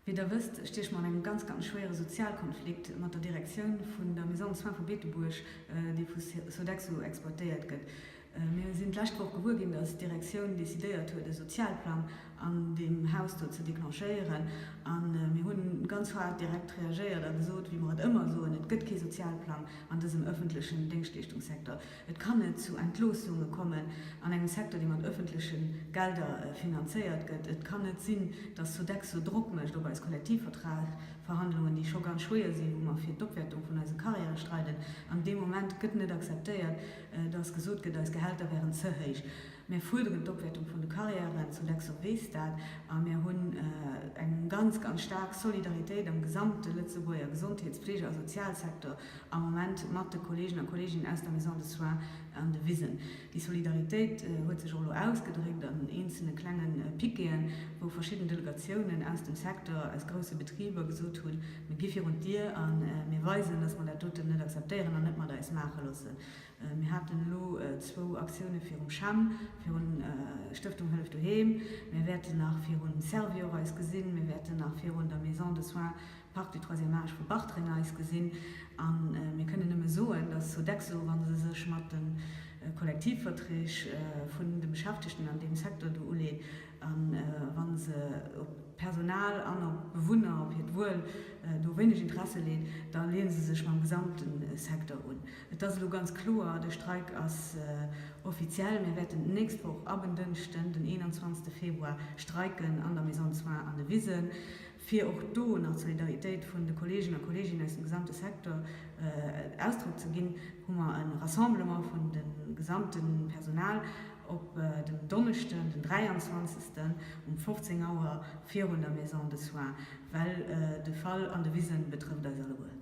Wéi der wësst, stieche mer an engem ganz, ganz schwéiere Sozialkonflikt mat der Direktioun vun der Maison de soins vu Beetebuerg, déi vu Sodexo exploitéiert gëtt. Mir sinn d'lescht Woch gewuer ginn, dass d'Direktioun decidéiert huet, e Sozialplang an deem Haus do ze declenchéieren. A mir hu ganz haart direkt reagéiert a gesot, wéi mer et ëmmer soen, Et gëtt kee Sozialplang an dësem ëffentlechen Déngschtleeschtungssektor. Et kann net zu Entloossunge kommen an engem Secteur, dee mat ëffentleche Gelder finanzéiert gëtt. Et kann net sinn, datt Sodexo Drock mécht op eis Kollektivvertragverhandlungen, déi scho ganz schwéier sinn, wou mer fir d'Opwäertung vun eise Carrièrë streiden. An dee Moment gëtt net akzeptéiert, datt gesot gëtt, eis Gehälter wären ze héich. Mär fuerderen d'Opwäertung vun de Carrièren, Sodexo weess dat, a mär hunn eng ganz, ganz staark Solidaritéit am gesamte Lëtzebuerger Gesondheets-, Fleege a Sozialsektor. am Moment mat de Kollegen a Kolleginnen aus der Maison de Soins an de Wisen. Déi Solidaritéit huet sech och elo ausgedréckt an eenzelne klenge Piqueten, wou verschidden Delegatiounen aus dem Secteur, aus grousse Betriber gesot hunn, mir gi virun d'Dier a mir weisen, dass mer dat doten net akzeptéieren an net mat eis maache loosse. Mir haten elo zwou Aktioune virum CHEM, virun Stëftung Hëllef Doheem, mir wäerten nach virun Servior eis gesinn, mir wäerten nach virun der Maison de Soins, Parc du troisième âge vu Bartreng eis gesinn a mir kënnen nëmme soen, dass Sodexo, wa se sech mat de Kollektivverträg vun de Beschäftegten an deem Secteur do uleet a wa se op d'Personal an op d'Bewunner, op hiert Wuel do wéineg Interesse leet, da leeë se sech mam gesamte Secteur un. Et ass elo ganz kloer, de Streik ass offiziell. Mir wäerten d'nächst Woch ab en Dënschden, den 21 Februar, streiken an der Maison de soins an de Wisen. fir och do nach d'Solidaritéit vun de Kolleegen a Kolleeginnen aus dem gesamte Secteur Ausdrock ze ginn, hu mer e Rassemblement vun dem gesamte Personal op den Donneschden, den 23. um 15 Auer virun der Maison de soins, well de Fall an de Wise betrëfft eis alleguer.